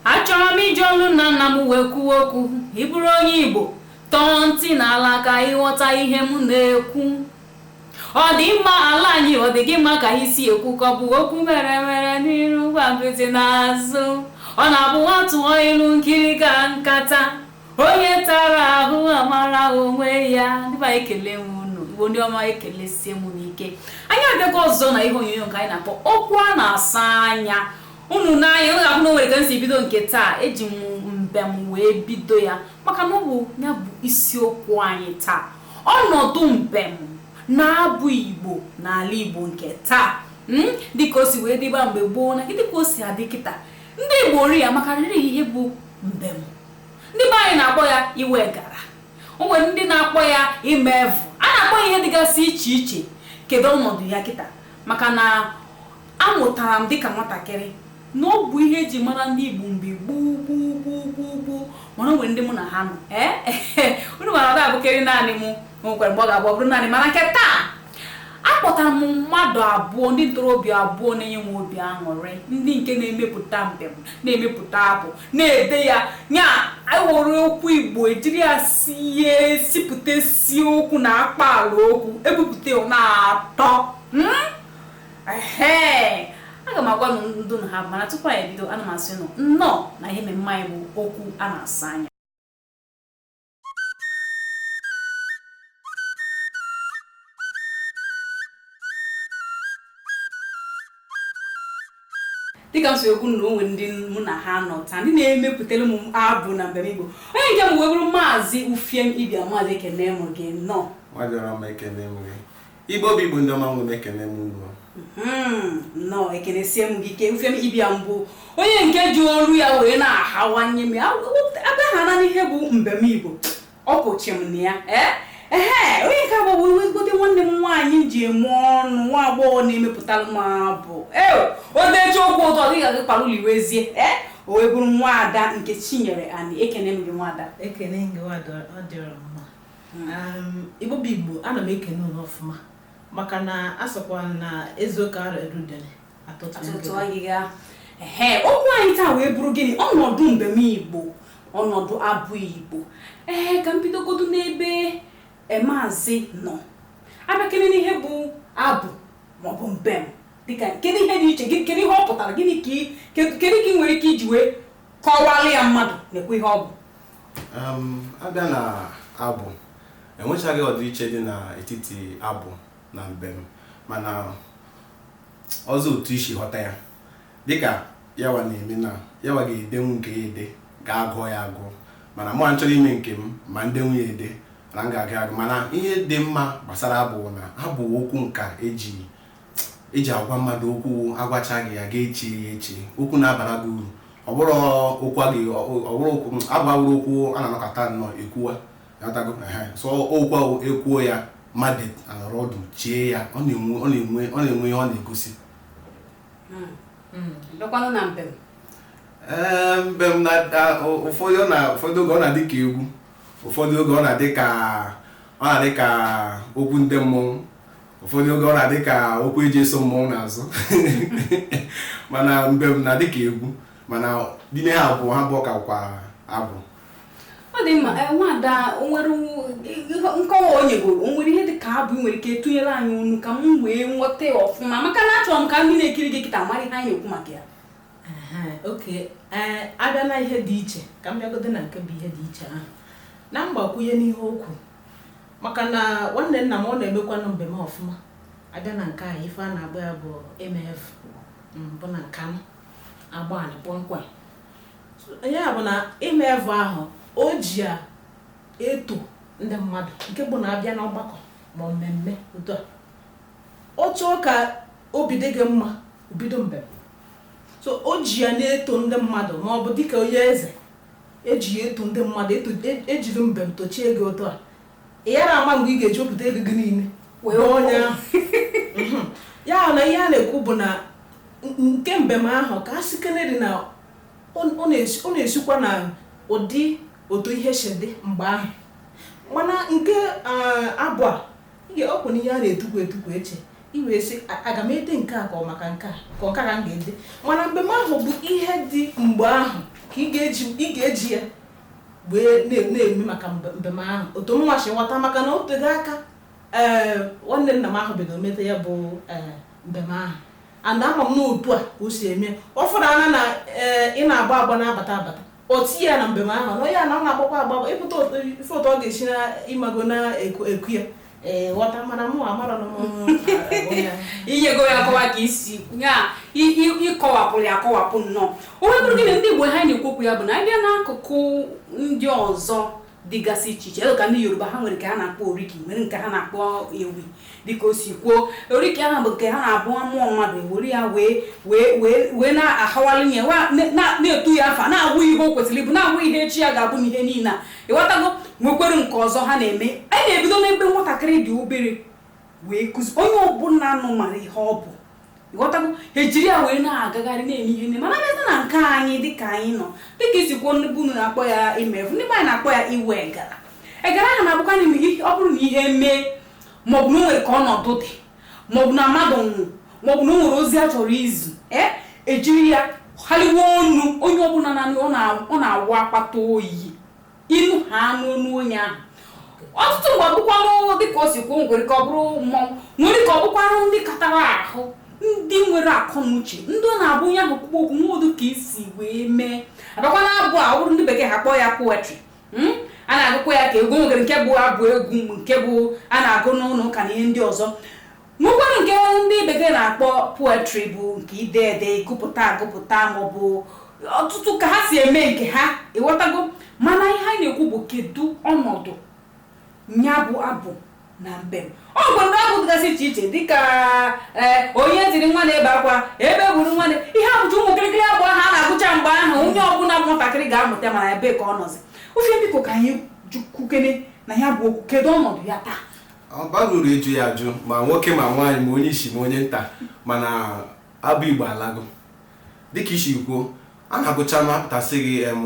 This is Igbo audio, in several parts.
achọrọ m iji olu nna nna m wee kwuo okwu ị bụrụ onye igbo tọọ ntị n'ala ka ịghọta ihe m na-ekwu ọ dị mma ala anyị ọ dị gị mma ka anyị si ekwu ka ọ bụ okwu mere mere n'iru gwompiti n'azụ ọ na-abụ a tụọ ilu nkịrịka nkata onye tara ahụ amara onwe ya ndị be anyị ekele m unu igbo ndị ọma ekelesie m unu ike anyị abịago ọzọ na ihe onyonyo nke anyị na-akpọ okwu a na-asa anya unu nee anya unu ga-ahụ na o nwere ka m si bido nke taa eji m mbem wee bido ya maka na ọ bụ ya bụ isiokwu anyị taa ọnọdụ mbem na abụ igbo n'ala igbo nke taa mm, dịka o si wee dịbu mgbe gboo na dịka o si adị kịta ndị igbo ri ya maka riri ihe bụ mbem ndị be anyị na-akpọ ya iwe egara o nwere ndị na-akpọ ya ime evụ a na-akpọ ya ihe dịgasị iche iche kedu ọnọdụ ya kịta maka na Amụtara m dịka nwatakịrị na ọ bụ ihe e ji mara ndị Igbo mgbe gboo gboo gboo gboo gboo mana o nwere ndị mụ na ha nọ ee unu ma na ọ da-abụkarị naanị mụ o nwekwara mgbe ọ ga-abụ ọ bụrụ naanị mana nke taa akpọtara m mmadụ abụọ ndị ntorobịa abụọ na-enye m obi aṅụrị ndị nke na-emepụta mbem na-emepụta abụ na-ede ya nya e were okwu igbo e jiri ya sie sipụta sie okwu na akpaalaokwu ebupụta ya ọ na-atọ mm? aga m agwa nụ ndị mụ na ha nọ mana tupu anyị ebido ana m asị nụ nnọọ na ihe mmemme anyị bụ okwu a na-asa anya dịka m si ekwu na o nwere ndị mụ na ha nọ taa ndị na-emepụtara m abụ na mbem igbo onye nke mbụ wee bụrụ maazị ufiem ibiam maazị ekene m gị nnọọ Igbo bụ Igbo ndị ọma m nwere ekene m unu hmm, nnọọ ekenesie m gị ike Ufiem Ibiam bụ onye nke ji olu ya wee na-ahawanye m a bịakene n'ihe bụ mbem Igbo ọ pụchi m na ya eh? ee onye nke abụọ bụ ezigbote nwanne m nwaanyị ji eme ọnụ nwa agbọghọ na-emepụtara m abụ ee o deji okwu ụtọ gị ga-agị kpara ụlọ iwezie ee o wee bụrụ nwaada Nkechinyere Ani ekene m gị nwaada ekene gị nwaada ọ dịrị mma Igbo bụ Igbo ana m ekene unu ọfụma maka na a sịkwa na eziokwu ara erudere atụtụ agịga ehe okwu anyị taa wee bụrụ gịnị ọnọdụ mbem Igbo ọnọdụ abụ Igbo ee ka m bidogodo n'ebe e, maazị nọ a bịakene n'ihe bụ abụ maọbụ mbem dịka kedu ihe dị iche kedu ihe ọ pụtara gịnị ka kedu ka ị nwere ike iji wee kọwalụ ya mmadụ nekwa ihe ọ bụ abịa na abụ enwechaghị ọdịiche dị n'etiti abụ na mbem mana ọzọ otu i si ghọta ya dịka yawa na-eme na yawa ga-edenwu nke ya ede ga-agụ ya agụ mana mụwa chọrọ ime nke m ma m denwu ya ede na m ga-aga agụ mana ihe dị mma gbasara abụ na-abụ okwu nka eji eji agwa mmadụ okwu agwacha gị ya ga-eche ya eche okwu na-abara gị uru ọ bụrọ okwu abụ awụrọ okwu a na-anọkata nnọọ ekwuwa ị ghọtago so okwu ahụ ekwuo ya mmadụ anọrọ ọdụ chee ya ọ na-enwe ọ na-enwe ihe ọ na-egosi hmm. Hmm. bịakwanụ na mbem ee mbem na ụfọdụ oge ọ na-adị ka egwu ụfọdụ oge ọ na-adị ka ọ na-adị ka okwu ndị mmọnwụ ụfọdụ oge ọ na-adị ka okwu eji eso mmọnwụ n'azụ mana mbem na-adị ka egwu mana n'ime ha abụọ ha bụ ọka kwa abụ ọ dị mma eh, nwada nwere nkọwa o nyegoro o nwere ihe dị ka abụ nwere ike tụnyere anyị ọnụ ka m wee ghọta ya ọfụma maka na achọrọ m ka ndị na-ekiri gị kịta mara ihe anyị na-ekwu maka ya okay eh, abịa na ihe dị iche ka m bịagodo na nke bụ ihe dị iche ahụ na mgbakwunye n'ihe okwu maka na nwanne nna m ọ na-emekwanụ mbem ọfụma abịa na nke a ife a na-agba ya bụ mf mbụ na nka m agba anị kpọmkwem ya bụ na ịma evu ahụ o ji ya eto ndị mmadụ nke bụ na abịa n'ọgbakọ ma mmemme otu a ọ chọọ ka obi dị gị mma o bido mbem so o ji ya na-eto ndị mmadụ ma ọ bụ dịka onye eze E ji ya eto ndị mmadụ, eto- e- ejiri mbem tochie gị otu a. Ị yara ama mgbe ị ga-eji wepụta ego gị niile. Wee gbaa onye ahụ. Mhm. Ya na ihe a na-ekwu bụ na n- nke mbem ahụ ka a sịkenerị na ọ ọ na-esi- ọ na-esikwa na ụdị otu ihe si dị mgbe ahụ. Mana nke ah, abụ a Ọ kwa na ihe a na-etukwu etukwu eche i wee sị aga m ede nke a ka ọ maka nke a ka ọ ka m ga-ede mana mbem ahụ bụ ihe dị mgbe ahụ ka ị ga-eji ya wee na-eme maka mbem ahụ otu mụwa si ghọta maka na o tego aka ee nwanne nna m ahụ bidoro meta ya bụ ee mbem ahụ and ama m na otu a ka o si eme ọ fụrụ anya na ee ị na-agba agba na-abata abata o tinye ya na mbem ahụ na onye a na ọ na-agbakwa agba ịpụta ife otu ọ ga-esi na ị mago na-eku ya ee ghọta mana mụ amarọ na inyego ya akọwa ka isi ya ịkọwapụrụ ya akọwapụ nnọọ o wee bụrụ gị na ndị Igbo ha na-ekwu okwu ya bụ na abịa n'akụkụ ndị ọzọ dịgasị iche iche ka ndị yoruba ha nwere nke ha na-akpọ oriki nwere nke ha na-akpọ ewi dịka o si kwuo oriki ahụ bụ nke ha na-abụ a mụọ mmadụ ewere ya wee wee wee wee na-ahawalụ ya wa- na- na- na-etu ya afa na-agụ ihe o kwesịrị ịbụ na-agụ ihe echi ya ga-abụ na ihe niile a ịghọtago nwekwere nke ọzọ ha na-eme anyị na-ebido n'ebe nwatakịrị dị obere wee kụzi onye ọbụla nọ mara ihe ọ bụ ghọtago ejiri ya wee na-agagharị na-eme ihe nne mana abịazia na nke anyị dịka anyị nọ dịka i si kwuo ndị be unu na-akpọ ya ịma evu ndị be anyị na-akpọ ya iwe egara egara ahụ na-abụkwa na ọ bụrụ na ihe mee maọbụ na o nwere ka ọnọdụ dị maọbụ na mmadụ nwụọ maọbụ na o nwere ozi a chọrọ izi ee ejiri ya haliwe ọnụ onye ọbụla nọ ọ na-awụ akpata oyi ịnụ ha n'ọnụ onye ahụ ọtụtụ mgbe ọ bụkwanụ dị ka o si kwuo nwere ka ọ bụrụ mmọnwụ nwere ka ọ bụkwanụ ndị katara ahụ ndị nwere akọ na uche ndị ọ na-abụ onye ahụ kwukwu okwu nwa odu ka isi wee mee a bịakwa na abụ a ọ bụrụ ndị bekee ha kpọọ ya poetry hmm? a na-agụkwa ya ka egwu nwere nke bụ abụ egwu nke bụ a na-agụ n'ụlọ ụka na ihe ndị ọzọ nwekwara nke ndị bekee na-akpọ poetry bụ nke ide ede ịgụpụta agụpụta maọbụ ọtụtụ ka ha si eme nke ha ịghọtago mana ihe anyị na-ekwu bụ kedu ọnọdụ ya bụ abụ na mbem o nwere abụ dịgasị iche iche dịka e, onye tiri nwa na-ebe akwa egbe gburu nwa ihe a bụcha ụmụ kịrịkịrị abụ ha na-agụcha mgbe ahụ onye ọbụla bụ nwatakịrị ga-amụta mana ebe ka ọ nọzi ofe biko ka anyị kwukene na ya bụ okwu kedu ọnọdụ ya taa ọ bara uru ịjụ ya ajụ ma nwoke ma nwaanyị ma onye isi ma onye nta mana abụ igbo alago dịka i si kwuo a na-agụcha ma a pụta sị gị em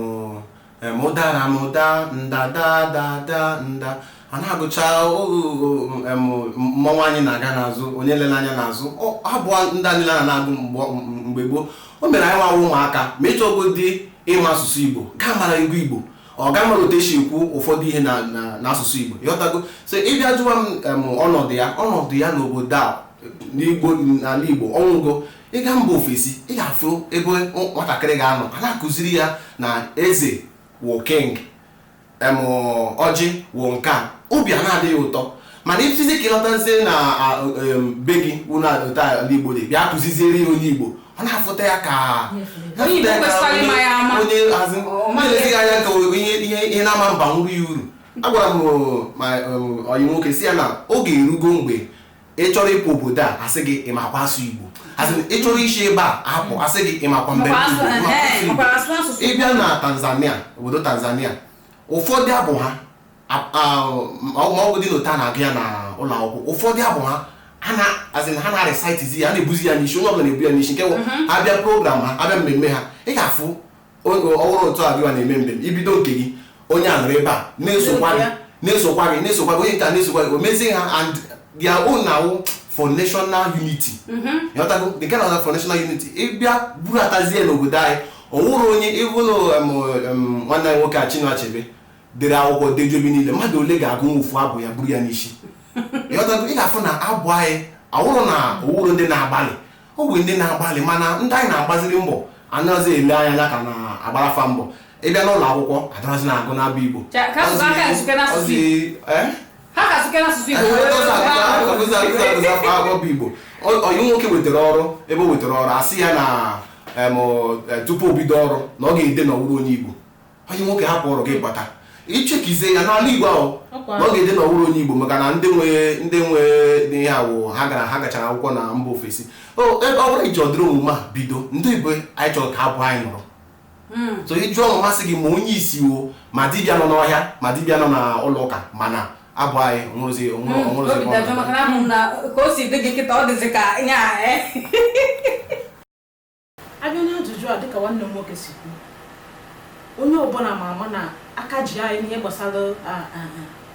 em ụdara m daa nda da da da nda a na-agụcha o- o- o- em mmọnwụ anyị na-aga n'azụ onye elena anya n'azụ ọ abụ ndị a niile a na-agụ mgbe- mgbe gboo o mere anyịnwa wụ ụmụaka ma ị chọgodi ịma asụsụ igbo gaa mara egwu igbo ọ ga-amara otu esi ekwu ụfọdụ ihe na- na- n'asụsụ Igbo ịghọtago so ị bịa jụwa m em, ọnọdụ ya ọnọdụ ya n'obodo a n'Igbo n'ala Igbo ọ nwụgo ị gaa mba ofesi ị ga-afụ ebe nwatakịrị ga-anọ a na-akụziri ya na eze wụ king em ọjị wụ nke a obi a na-adị ya ụtọ mana ị fụzi ka ị lọtazie na be gị wụ ala Igbo bịa kụziziere ya onye Igbo ọ na-afụta ya ka onye hazi anya ka ihe na-ama abara ya uru agwara m ọyị m nwoke sị ya na oge erugo mgbe ị chọrọ ịpụ obodo a asị gị ị makwa asụ Igbo asị ị chọrọ isi ebe a apụ asị gị ị makwa mbem ị bịa na Tanzania obodo Tanzania ụfọdụ abụ ha maọbụ dị n'otu a na-agụ ya na ụlọ akwụkwọ ụfọdụ abụ ha ha na azị na ha na recitizi ya a na-ebuzi ya n'isi onye ọbụla na-ebu ya n'isi nke wụ a bịa program ha a bịa mmemme ha ị ga-afụ ọ wụrụ otu a gịwa na-eme mbem i bido nke gị onye a nọrọ ebe a na-esokwa gị na-esokwa gị na-esokwa gị onye nke a na-esokwa gị o mezie ha and their own now for national unity ịghọtago the kind of for national unity ị bịa buratazie n'obodo anyị o nwerọ onye i bulu nwanne anyị nwoke a Chinua Achebe dere akwụkwọ dejuo ebe niile mmadụ ole ga-agụnwu ofu abụ ya buru ya n'isi ịghọtago ị ga-afụ na abụ anyị ọ wụrọ na o nwerọ ndị na-agbalị o nwe ndị na-agbalị mana ndị anyị na-agbaziri mbọ anaghịzi ele anya ka a na-agbara fa mbọ ị bịa n'ụlọ akwụkwọ adarazi na-agụ n'abụ igbo Ka ka asụsụ aka ya site n'asụsụ Igbo. Ọzi- eh? ha ka sụke n'asụsụ Igbo wee were ha. bụ igbo onye nwoke wetara ọrụ ebe o wetara ọrụ a sị ya na em, eh, tupu o bido ọrụ na ọ ga-ede na ọ wụrọ onye igbo onye nwoke hapụ ọrụ gị bata i chekizie ya n'ala igbo ahụ na ọ ga-ede na ọ wụrọ onye igbo maka na ndị nwe ndị nwe ihe ahụ ha gara ha gachara akwụkwọ na mba ofesi ọ bụrụ i ji ụdịrị omume a bido ndị igbo anyị chọrọ ka abụ anyị nọrọ hmm. so ị jụọ mụ m asị gị ma onye isi o ma dibịa nọ n'ọhịa ma dibịa nọ n'ụlọ ụka ma na abụ anyị o nwerozi o nwerozi hmm. ka o si dị gị kịta ọ dịzi ka ihe a eh? a bịa n'ajụjụ a dịka nwanne m nwoke si kwuo onye ọbụla ma ama na aka ji anyị n'ihe gbasara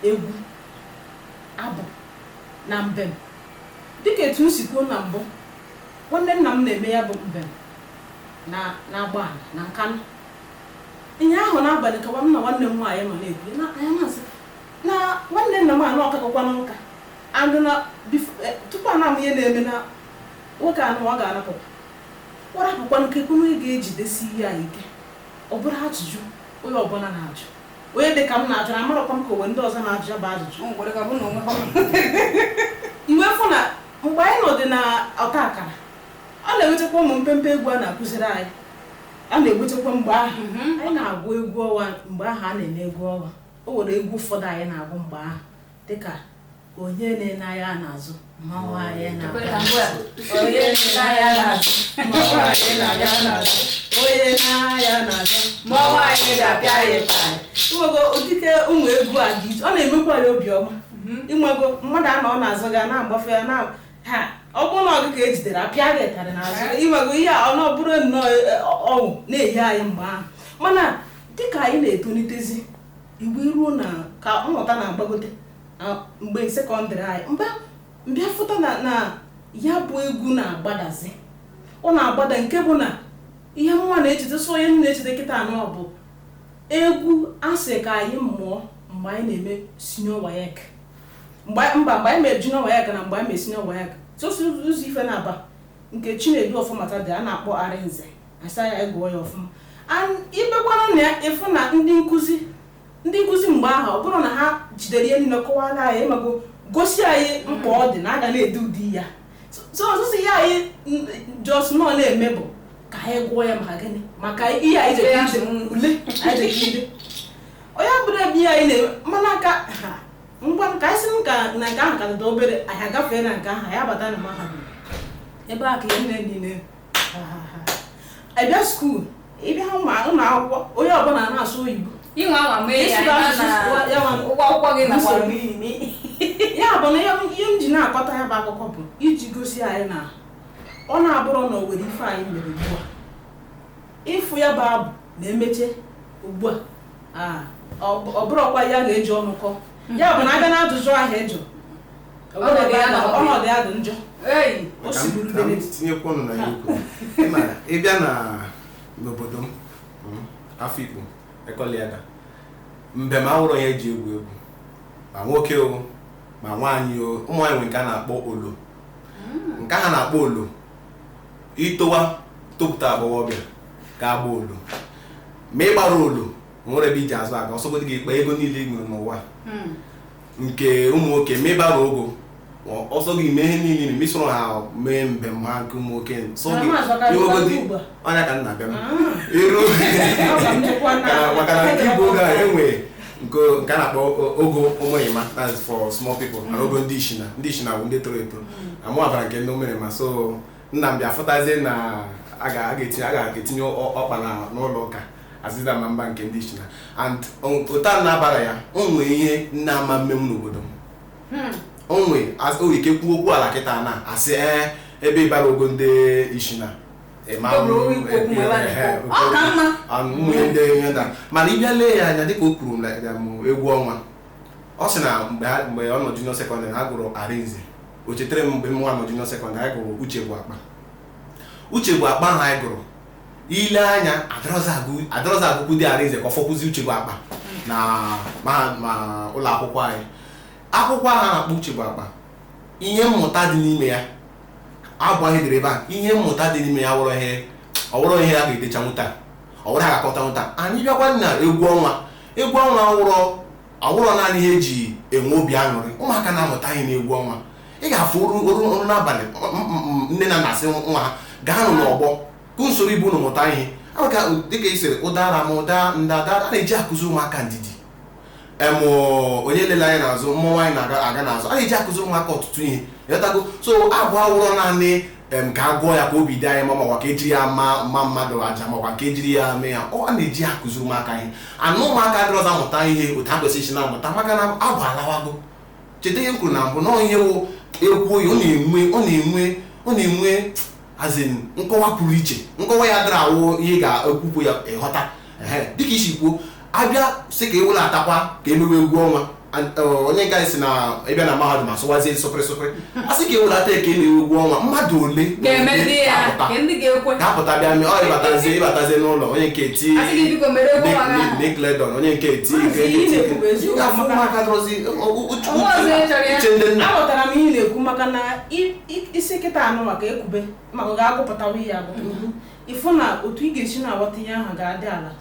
egwu abụ na mbem dịka etu m si kwuo na mbụ nwanne nna m na-eme ya bụ mbem na Agbani na Nkanụ ihe ahụ n'abalị ka nwanne nwanne m nwaanyị nọ na-ekwu na anya masị na nwanne nna m anụ akakọkwa nka andụ na e, tupu a na-ama ihe na-eme na nwoke anụ ọ ga-arapụ Ọ rapụkwanụ kekwa onye ga-ejidesi ihe a ike? Ọ bụrụ ajụjụ onye ọbụla na-ajụ. Onye dị ka m na-ajụ na amarọkwa m ka o nwe ndị ọzọ na-ajụ ya bụ ajụjụ. O nwekwara ka bụ na onwe ha. I wee fụ na mgbe anyị nọ dị na ọta akara, a na-ewetakwa ụmụ mpempe egwu a na-akụziri anyị. A na-ewetakwa mgbe ahụ mhm. anyị na-agụ egwu ọnwa mgbe ahụ a na-eme egwu ọnwa. O nwere egwu ụfọdụ anyị na-agụ mgbe ahụ. dịka onye enena anya n'azụ mmanwụ anyị na-aga onye enena anya n'azụ mmanwụ anyị na-aga n'azụ onye nee anya n'azụ mmanwụ anyị ga-apịa ya ịtarị ịnwego ụdịke ụmụ egwu a dị iche ọ na-emekwa ya obiọma ịnwego mmadụ anọ n'azụ gị na-agbafe ya na ha ọ bụrụ na ọ gị ka e jidere a pịa gị ịtarị n'azụ ịnwego ihe a ọ na ọ bụrụ nnọọ eh, ọṅụ na-ehi anyị mgbe ahụ mana dịka anyị na-etolitezi mgbe iruo na ka mmụta na-agbagote mgbe secondary anyị m bịa fụta na ya bụ egwu na-agbadazi ọ na-agbada nke bụ na ihe m ma na-echeta so ihe m na-echeta kịta anọ bụ egwu a sị ka anyị mụọ mgbe anyị na-eme senior WAEC mba mgbe anyị mere junior WAEC na mgbe anyị mere senior WAEC sosi ụzọ ife na-aba nke Chinedu Ọfọmata dere a na-akpọ Arịnze a sị anyị gụọ ya ọfụma ibekwara na ị fụ na ndị nkụzi ndị nkụzi mgbe ahụ ọ bụrụ na ha jidere ihe niile kọwara anyị emago gosi anyị mkpa ọ dị na a ga na-ede ụdị ya so ọzụzụ ihe anyị just nọ na-eme bụ ka anyị gụọ ya maka gịnị maka ihe anyị jere ide ule anyị jere ide onye bụrụ ebe ihe anyị na-eme mana aka ngwa ka anyị si m ka na nke ahụ ka dịda obere anyị agafee na nke ahụ anyị abata na mahadum ebe a ka ihe nne niile a bịa school ị bịa n'ụlọ akwụkwọ onye ọbụla na-asụ oyibo ị nwaa anwa mee ya ụgwọ akwụkwọ gị na ya bụ na ihe m ji na-akọta ya bụ akụkọ bụ iji gosi anyị na ọ na-abụrụ na o nwere ife anyị mere ugbu a ị fụ ya bụ abụ na-emeche ugbu a ọ bụrọkwa ihe a ga-eji ọnụ kọọ ya bụ na a bịa na ajụjụ ahụ ị jụrụ ọnọdụ ya dị njọ tinyekwa ọnụ na ya ukwu ị bịa n'obodo m hmm, Afikpo Ekoli Edda mbem awụrọ ihe e ji egwu egwu ma nwoke o ma nwaanyị o ụmụ nwaanyị nwere nke a na-akpọ olo hmm. nke ha na-akpọ olo i towa topụta agbọghọbịa ga-agba olo ma ị gbara olo nwere ebe i ji azụ aga ọ sọgodi gị kpa ego niile ị nwere n'ụwa hmm. nke ụmụ nwoke ma ị bara ogo ọ sọ gị mee ihe niile ma i soro ha mee mbem ha nke ụmụ nwoke sọ gị iwegodi ọnya ka nna bịa hmm. iru maka na nke ịba ogo a e nwere nke a na-akpọ ogo ụmụrịma that's for small people na hmm. ogo ndị ishina ndị ishina bụ ndị toro eto mụ abara nke ndị ụmụrịma so nna m bịa fụtazie na a ga-etinye ọkpa n'ụlọ ụka a sị na m ma-aba nke ndị ishina and ụta na-abara ya o nwe ihe nne ama mmenwu n'obodo m o nwe ike kwuo okwu ala kịta na a sị ee ebe ị bara ogo ndị ishina mana ị bịa lee ya anya dịka o kwuru na egwu ọnwa ọ sị na mgbe ọ nọ junior secondary ha gụrụ Arịnze o chetara m mgbe m nwa nọ junior sekọndịrị anyị gụrụ uche bụ akpa uche bụ akpa ahụ anyị gụrụ i lee anya adịrọzi agụkwudị Arinze ka ọ fọkwụzi uche bụ akpa na ma ụlọ akwụkwọ anyị akwụkwọ ahụ a na-akpọ uche bụ akpa ihe mmụta dị n'ime ya abụ ahụ e dere ebe a ihe mmụta dị n'ime ya awụrọ ihe ọ wụrọ ihe a ga-edecha nwụta ọ wụrọ a ga-akọcha nwụta anyị bịakwa na egwu ọnwa egwu ọnwa awụrọ Awụrọ naanị ihe e ji enwe obi aṅụrị, ụmụaka na-amụta ihe n'egwu ọnwa. Ị ga-afụ o ruo n'abalị nne na nna sị nwa ha gaanụ n'ọgbọ ka unu soro ibe unu mụta ihe. Aha dịka ị sịrị ụdara m ụda nda ada a na-eji akụziri ụmụaka ndidi. Em onye elele anya n'azụ mmọnwụ anyị na-aga n'azụ a na-eji akụziri ụmụaka ọtụtụ ihe ịghọtago so abụ awụrọ naanị em ka a gụọ ya ka obi dị anyị mma makwa ka ejiri ya ma ma mmadụ aja makwa ka ejiri ya mee ya a na-eji ya akụziri ụmụaka ihe and ụmụaka adịrọzi amụta ihe otu ha kwesịrị isi na-amụta maka na abụ alawago cheta ihe m kwuru na mbụ na ọ ihe wụ ekwu oyi ọ na-enwe ọ na-enwe ọ na-enwe as in nkọwa pụrụ iche nkọwa ya adịrọ awụ ihe ga-ekwupụ ya ịghọta dịka i si kwuo a bịa sị ka e welatakwa ka e mewe egwu ọnwa onye nke anyị si na ịbịa na mahadum asụwazie sụpịrị sụpịrị a sị ka e welata ka e mewe egwu ọnwa mmadụ ole ga-apụta bịa mee ọ ịbatazie ịbatazie n'ụlọ onye nke eti Nickelodeon onye nke eti uche ndị nna aghọtara m ihe ị na-ekwu maka na ị sị kịta anụ maka ekube maka ga-agụpụtawa ihe agụ ịfụ na otu ị ga-esi na-aghọta ihe ahụ ga-adị ala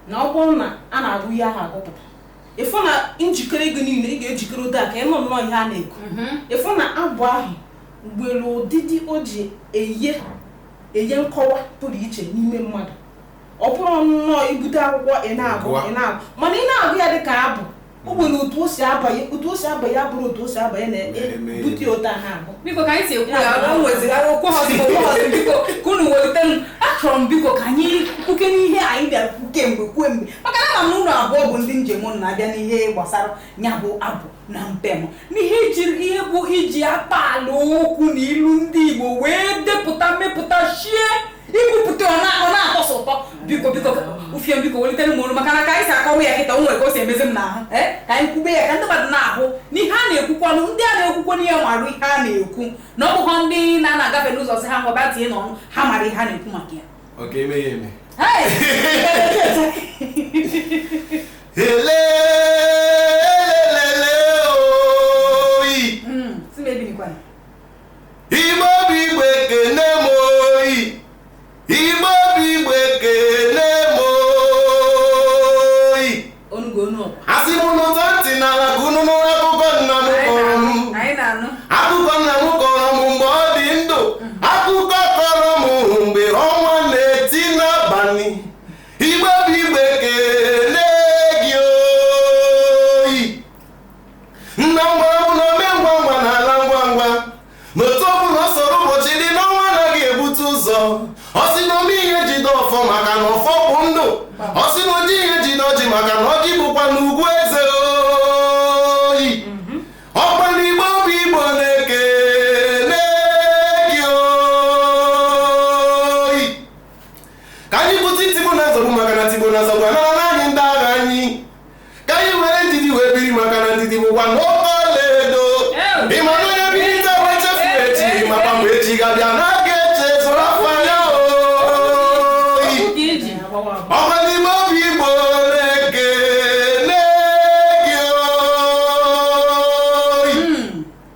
na ọ bụrụ na a na-agụ ihe ahụ agụpụta ịfụ na njikere gị niile ị ga-ejikere ụda ka ị nụ nnọọ ihe a na-ekwu mhm. ịfụ na abụ ahụ nwere ụdịdị o ji eye eye nkọwa pụrụ iche n'ime mmadụ ọ bụrọ nnọọ ibute akwụkwọ ị na-agụ ị na-agụ mana ị na-agụ ya dị ka abụ o nwere otu o si abanye otu o si abanye ụbụrụ otu o si abanye na-ebute ụtọ ha abụ biko ka anyị si ekwu ya o nwezigara okwu ha ọzọ okwu ha ọzọ biko ka unu welite m achọrọ m biko ka anyị kwuke n'ihe anyị bịara kwu kemgbe kwuo mgbe maka na ama m unu abụọ bụ ndị e ji eme ọnụ na a bịa n'ihe gbasara ya bụ abụ na mbem n'ihe ijiri ihe bụ iji akpaalaokwu na ilu ndị Igbo wee depụta mmepụta shie ikwupụta ọ na-atọ sọ ụtọ biko biko ufie biko welitere m olu maka na ka anyị si akọwa ya kịta o nwere ka o si emezi m n'ahụ eh, ka anyị kwube ya ka ndị mmadụ na-ahụ n'ihe a na-ekwukwanụ ndị a na-ekwukwa n'ihe marụ ihe a na-ekwu na ọ bụghọ ndị na-agafe n'ụzọ sị ha ngwa bịa tinye n'ọnụ ha mara ihe a na-ekwu maka ya ele Igbo bụ Igbo ekene m oyi Igbo bụ Igbo ekene m oyi onugo onu ọkwa asị m unu tọọ ntị n'ala ka unu nụrụ akụkọ nna m kọrọ m anyị na-anụ akụkọ nna m kọrọ m mgbe ọ dị ndụ akụkọ ọ kọrọ m mgbe ọnwa na-eti n'abalị Igbo bụ Igbo ekene gị oyi nna m gwara m na ome ngwa ngwa na-ala ngwa ngwa n'otu ọbụla ọ sọrọ ụbọchị dị n'ọnwa anaghị ebute ụzọ ọ sị na ome ihe jide ọfọ maka na ọfọ bụ ndụ ọ sị na oji ihe jide ọjị maka na ọjị bụkwa na ugwu eze oyi ọkwa na Igbo bụ Igbo na-ekele gị oyi ka anyị bute tigbu na nzọgbu maka na tigbu na nzọgbu anara ka anyị were ndidi wee biri maka na ndidi bụkwa n'oke ọlaedo ịma na onye biri taa wee chefu echi maka mgbe echi ga-abịa na aga eche zụrụ afọ anya oyi ọkwa na Igbo bụ Igbo na-ekele gị oyi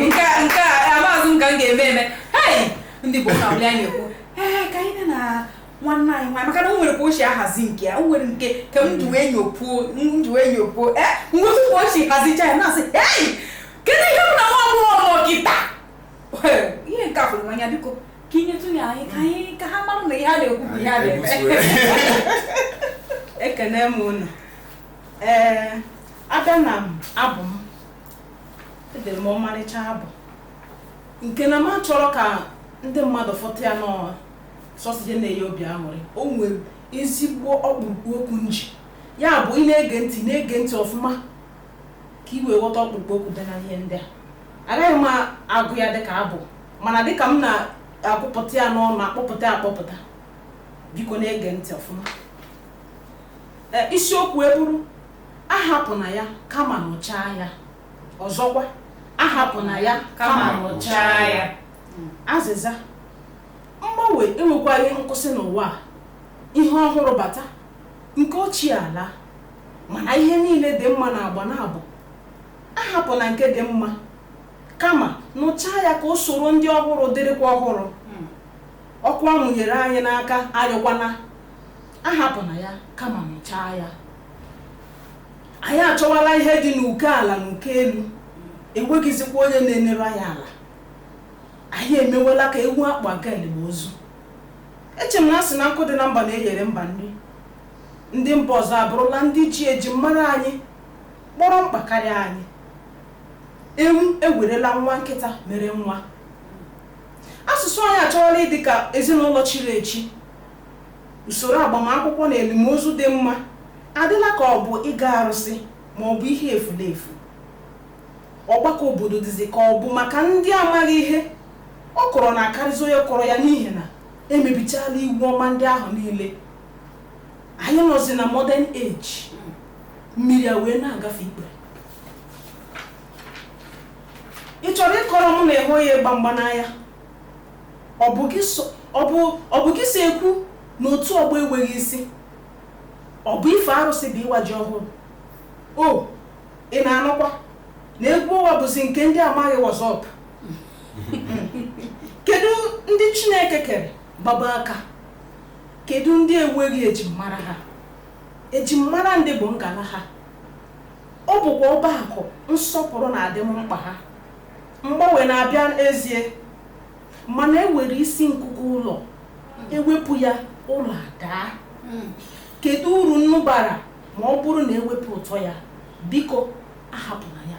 nke a nke a amaghịzi m ka m ga-eme eme hei ndị Igbo ka wuli anyị ekwu ee ka anyị na nwanne anyị nwaanyị maka na o nwere ka o si ahazi nke ya o nwere nke ka m ji wee nyopuo m ji wee nyopuo ee ngwezi ka o si hazicha ya na-asị hei kedu ihe m na nwa agbọghọ kịta ihe nke a fụrụ n'anya biko ka inyetụ ya anyị ka anyị ka ha mara na ihe a na-ekwu bụ ihe a na-eme ekene m unu ee a bịa na abụ m edere m ọmarịcha abụ nke na m achọrọ ka ndị mmadụ ghọta ya n'ọha sọsọ ihe na-enye obi aṅụrị o nwere ezigbo ọkpụrụkpụ okwu m ji ya bụ ị na-ege ntị na-ege ntị ọfụma ka i wee ghọta ọkpụrụkpụ okwu dị na ihe ndị a agaghị m agụ ya dịka abụ mana dịka m na-agụpụta ya n'ọnụ akpọpụta ya akpọpụta biko na-ege ntị ọfụma Ee, isiokwu eburu ahapụna ya kama nụchaa ya ọzọkwa ahapụna ya kama nụchaa ya azịza mgbanwe enwekwaghị nkwụsị n'ụwa a. ihe ọhụrụ bata nke ochie alaa mana ihe niile dị mma n'agba n'agba ahapụna nke dị mma kama nụchaa ya ka o soro ndị ọhụrụ dịrịkwa ọhụrụ hmm. ọkụ a mụnyere anyị n'aka anyụkwana ahapụna ya kama nụchaa ya anyị achọwala ihe dị n'uko ala na uko elu enweghịzikwa onye na-enere anyị ala anyị emewela ka ewu a kpụ eje elim ozu eche m na a sị na nkụ dị na mba na-eyere mba nri Ndị mba ọzọ abụrụla ndị ji ejimmara anyị kpọrọ mkpa karịa anyị. Ewu ewerela nwa nkịta mere nwa. Asụsụ anyị achọọla ịdị ka ezinụlọ chiri echi. Usoro agbamakwụkwọ na elimozu dị mma adịla ka ọ bụ ịga arụsị ma ọ bụ ihe efulefu. Ọgbakọ obodo dịzi ka ọ bụ maka ndị amaghị ihe, ọkụrụ na-akarịzi onye kụrụ ya n'ihi na e mebichaala iwu ọma ndị ahụ niile anyị nọzi na modern age mmiri a wee na-agafe ikpere ị chọrọ ịkọrọ m na ị hụghị ịgba mgba n'anya ọ bụ gị si ekwu na otu ọgbọ enweghị isi ọ bụ ife arụsị bụ ịwa ji ọhụrụ o ị na-anụkwa na egwu ọnwa bụzi nke ndị amaghị what's up kedu ndị chineke kere gbaba aka Kedu ndị enweghị ejimmara ha? Ejimmara ndị bụ ngala ha. Ọ bụkwa ọba akụ nsọpụrụ na adịm mkpa ha. Mgbanwe na-abịa ezie, mana e were isi nkuku ụlọ, ewepụ ya, ụlọ adaa. Hmm. Kedu uru nnu bara ma ọ bụrụ na ewepụ ụtọ ya? Biko, ahapụna ya.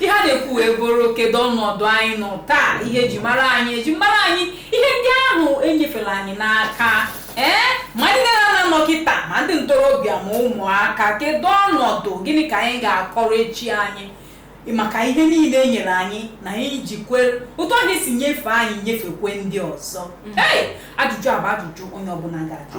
ihe a na-ekwu wee bụrụ kedu ọnọdụ anyị nọ taa ihe eji mara anyị eji mara anyị ihe ndị ahụ enyefere anyị n'aka ee ma ndị nne na nna nọ kịta ma ndị ntorobịa ma ụmụaka kedu ọnọdụ gịnị ka anyị ga-akọrọ echi anyị maka ihe niile e nyere anyị na anyị jikwe otu ahụ esi nyefee anyị nyefekwe ndị ọzọ ee ajụjụ a bụ ajụjụ onye ọbụla ga-ajụ